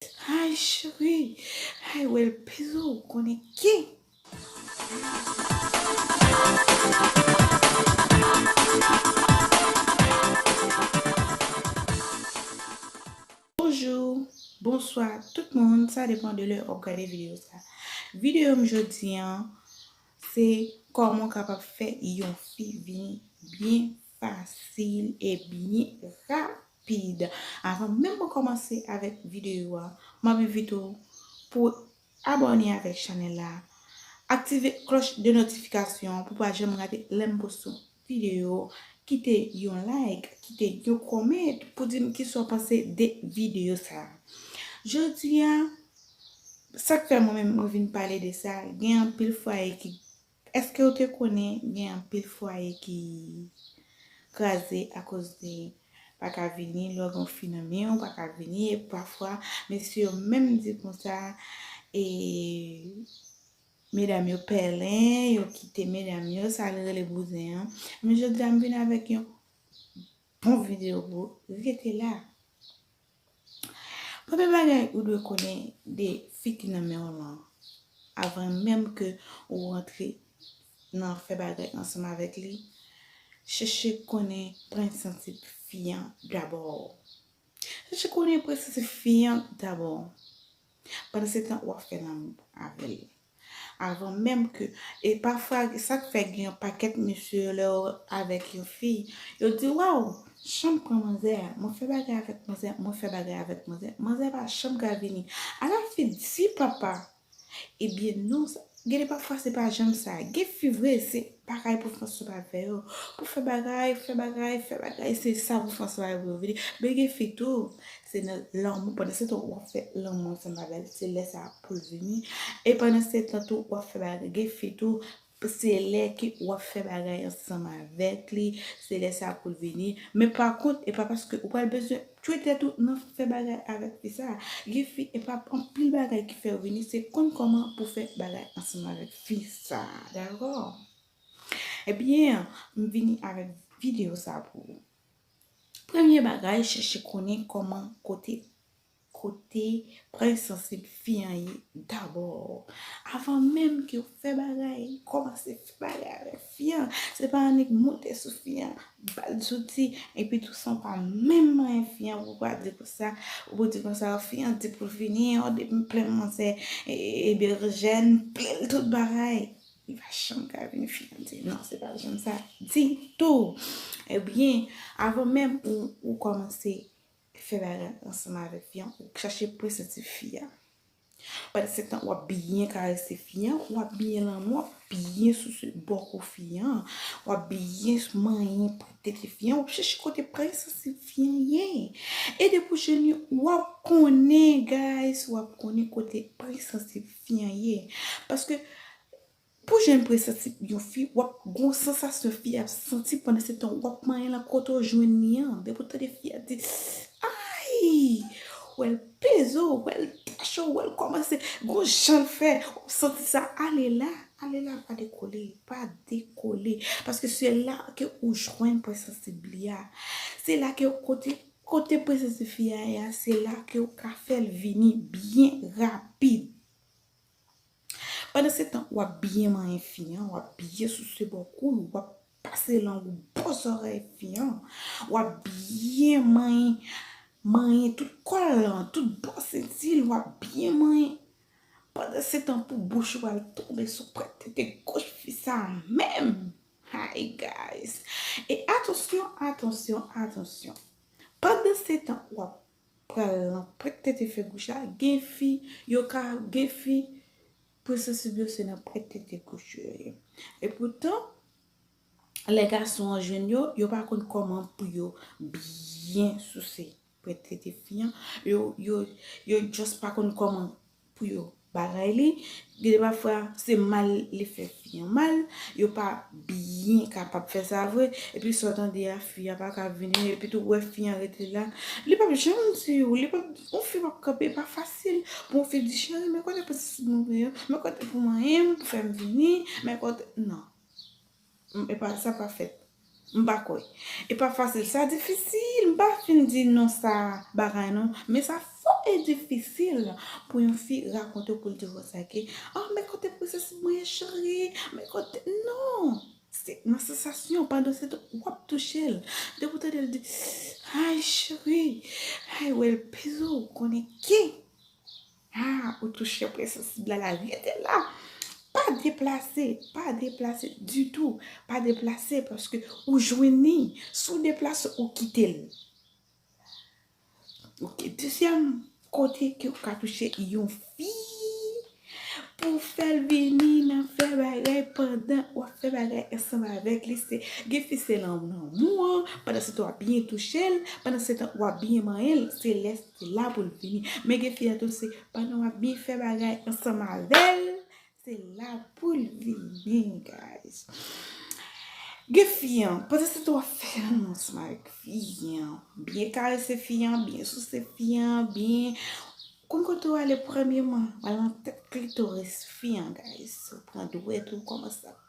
Hi cheri Hi wel pizo ou konnen ki. Bonjour Bonswa tout moun sa depan de lè wap gade video sa video m jodi an se kòman w kapab fè yon fi vini byen fasil e byen rapid. Avan menm mwen kòmanse avèk videyo a, m ap envite w pou w abòne avèk chanèl la, aktive klòch de notifikasyon an pou w pa janm rate lè m poste yon videyo, kite yon like, kite yon comment pou di m kisa w panse de videyo sa. Jodi a, sa k fè mwen menm mwen vin pale de sa, gen anpil fwaye ki Eskew te konnen gen anpil fwaye ki kraze akoz de paka vini lè w gen yon fi nan men w paka vini e pafwa mesye yo menm di konsa e medam yo pèlen yo kite medam yo sa yo rele bouzen an men jodi a m vin avèk yon bon videyo pou ou rete la. Premye bagay ou dwe konnen de fi ki nan menw lan avan menm ke ou rantre nan fè bagay ansanm avèk li, chèche konnen prensensip fi an dabò. Chèche konnen prensensip fi an dabò. Pandansetan wap fè lanmou avèl avan menm ke e pafwa sak fè gen yon pakèt mesye yo lèw avèk yon fi yo di waw janm pran manzè a mwen fè bagay avèk manzè mwen fè bagay avèk manzè manzè pa janm ka vini ala fi di papa ebyen non Gede pafwa se pa janm sa. Gen fi vre se bagay pou François pa fè yo. Pou fè bagay, fè bagay, fè bagay se sa pou François yo pou yo vini. Men gen fi tou se nan lanmou pandan se tan wap fè lanmou ansanm avèl se lè sa poul vini. E pandan se tan tou wap fè bagay gen fi tou se lè ke wap fè bagay ansanm avèk li se lè sa poul vini. Men pa kont e pa paske ou pral bezwen Twete tou nan fè bagay avèk fi sa. Gen fi epa anpil bagay ki fèw vini se konn kòman pou fè bagay ansanm avèk fi sa dakò ebyen m vini avèk video sa pou ou premye bagay chèche konnen kòman kote kote pwen sansib fi an ye dabò avan menm kew fè bagay kòmanse fè bagay avèk Fi an se pa annik moute sou fi an bal zouti epi tou san w pa menm manyen fi an pou w pa di konsa ou pou di konsa fi an di pou l fini an depi m plen mwen se Berjèn plen l tout bagay li pa janm ka vini fi an di non se pa janm sa ditou ebyen avan menm ou kòmanse fè bagay ansanm avèk fi an ou chache presenti fi an. Pandan se tan wap byen karese fi an, wap byen lanmou, wap byen souse bo kou fi an, wap byen manyen pran tete fi an, wap chèche kote pwen sansib fi an ye. E depi w jèn yon, wap konnen guys, wap konnen kote pwen sansib fi an ye. Paske Pou jan presanti yon fi wap gon sansasyon fi ap santi pandan se tan wap manyen lan kote w jwenn li an depi w tande fi a di ayy wè l peze w wè l tache w wè l kòmanse gon jan l fè wap santi sa ale la ale la pa dekole pa dekole paske se la ke ou jwenn presansib li a se la ke kote kote presansi fi a ye a se la ke ou ka fè l vini byen rapid. Pandan se tan w ap byen manyen fi an, w ap byen souse bò kou l, w ap pase lang ou bò zòrèy fi an, w ap byen manyen, manyen tout kò l lan, tout bò senti l, w ap byen manyen. Pandan se tan pou bouch ou al tonbe sou pwent tete goch fi sa a menm! Hi guys! E atansyon, atansyon, atansyon! Pandan se tan w ap pral lan prèt tete fè gouch la gen fi yo ka gen fi prinsesib yo se nan prèt tete gouch yo ye e poutan lè gason an jwenn yo yo pa konn kòman pou yo byen souse prèt tete fi an yo yo yo just pa konn kòman pou yo bagay li, gen de pafwa se mal li fè fi an mal, yo pa byen kapab fè sa vre, epi sa w tande a fi a pa ka vini, epi tou wè fi an rete la, li pap janm di ou, li pap, yon fi pap kanpe, e pa fasil pou yon fi di cheri men kote plis moun yo, men kote pou manyen m pou fè m vini, men kote, nan. M epa sa pa fèt. M pa kwè. E pa fasil. Sa difisil. M pa fin di non sa bagay non. Men sa fò e difisil pou yon fi rakonte w pou l di w konsa ok. Ah men kote princesse mwen ye cheri. Men kote. Non! Se nan sansasyon. Pandan se tan w ap touche l. Depi w tande l di Ayy cheri. Ayy ou el peze w. Konnen ke. Haa ou touche pwen sansib la la rete la pa deplase pa deplase ditou pa deplase paske ou jwenn ni sou ou deplase ou kitel ok dezyèm kote ke ou ka touche yon fi pou fèl vini nan fè bagay pandan wap fè bagay ansanm avèk li se gen fi se nan lanmou an pandan se tan wap byen touchel pandan se tan wap byen manyenl se lè Se la pou l fini. Men gen fi a tou se pandan w ap byen fè bagay ansanm avè l, se la pou l fini guys. Gen fi a, pandan se tan w ap fè lanmou ansanm avèk fi a, byen karese fi a, byen souse fi a, byen, konn kote w ale premyeman, w al nan tèt klitoris fi a guys, ou pran dwèt ou, w kòmanse ap.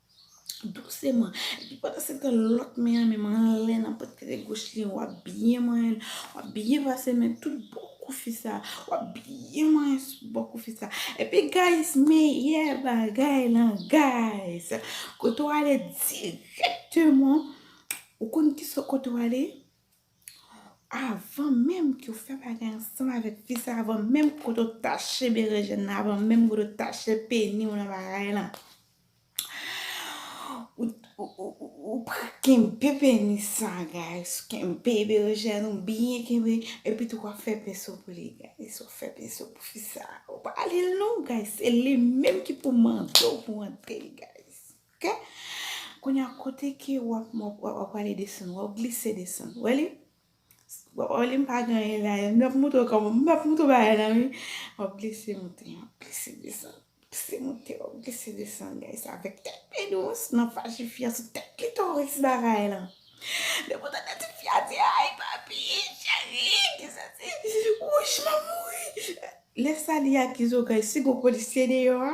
Douseman. Epi pandan se tan lòt men an menm anlè nan pòtre goch li an. W ap byen manyen l. W ap byen pase men tout bò kou fi sa a. W ap byen manyen sou bò kou fi sa a. Epi guys, meyè bagay lan guys. Kote w ale dirèkteman. Ou konn ki sa kote w ale. Avan menm ke w fè bagay ansanm avèk fi sa a. Avan menm kote w tache berejèn nan. Avan menm kote w tache peni w nan bagay lan. Ou pran kenbe penis sa guys. Kenbe berejèn ou byen kenbe. Epi tou wap fè penso pou li guys. Wap fè penso pou fi sa. Ou pa ale l non guys. Se li menm ki pou mande w pou antre l guys. Ok. Kounya kote ke wap wap ale desann. Wap glise desann. Wè li? Waww li m pa genyen la yo. M ap montre w kòman m ap montre w bagay la wi. Wap glise monte wap glise desann wap glise monte wap glise desann guys avèk tèt pi dous nan fache fi a sou tèt klitoris bagay lan depi w tande ti fi a di ayy papi cheri ki sèsi wouch m ap mouri lè sa li akize w guys si gon polisye deyò a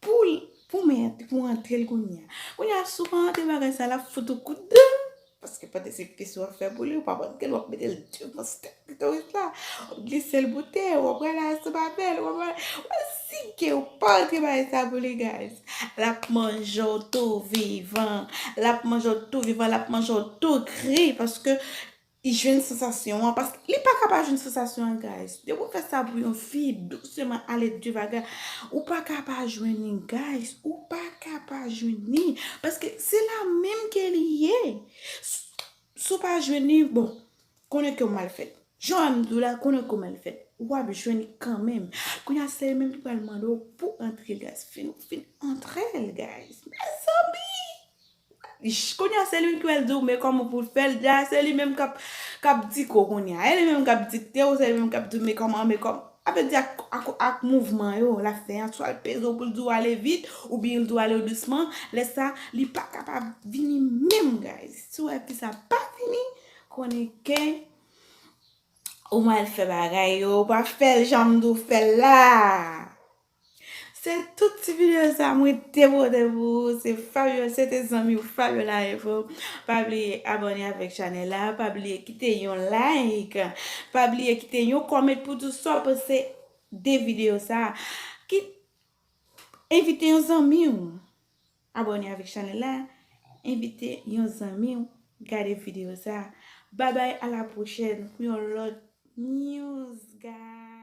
Poul pou men an pou antrel kounya. Kounya sou pa antre bagay sa lap fout ou kout dan. Paske pote se plis wap fè pou li ou pap antrel wap metel devan stek klitoris la. Wap glisel boute wap rale a sou babel wap rale. Wè si gen ou pa antre bagay sa pou li guys. Lap manjew tou vivan. Lap manjew tou vivan lap manjew tou kri paske I jwenn sansasyon an paske li paka pa jwenn sansasyon an guys depi ou fè sa pou yon fi douseman ale de vaga ou paka pa jwenn li guys ou paka pa jwenn li paske se la menm ke li ye si w pa jwenn li bon konnen ke w mal fèt jan wè m di w la konnen ke w mal fèt wap jwenn li kanmenm kounye a se li menm ki pral mande w pou antre guys fin antre l guys mezanmi. Kounya se li menm ki pral diw men kòman pou l fèl deja se li menm kap kap dik ou kounya e li menm kap dikte ou se li menm kap diw men kòman men kòman sa vle di ak ak mouvman yo lap fè an swal peze w poul diw ale vit oubyen l diw ale dousman lè sa li pa kapab vini menm guys si w wè fi sa pa vini konnen ke ou mal fè bagay yo ou pa fèl janm diw fèl la. Se tout ti video sa mwen te pote pou ou se Fabiola se te zanmi ou Fabiola info pa bliye abone avèk chanèl la pa bliye kite yon like pa bliye kite yon comment pou di sa w panse de video sa ki envite yon zanmi ou abone avèk chanèl la envite yon zanmi ou gade video sa babay a la pwochèn pou yon lòt news guys.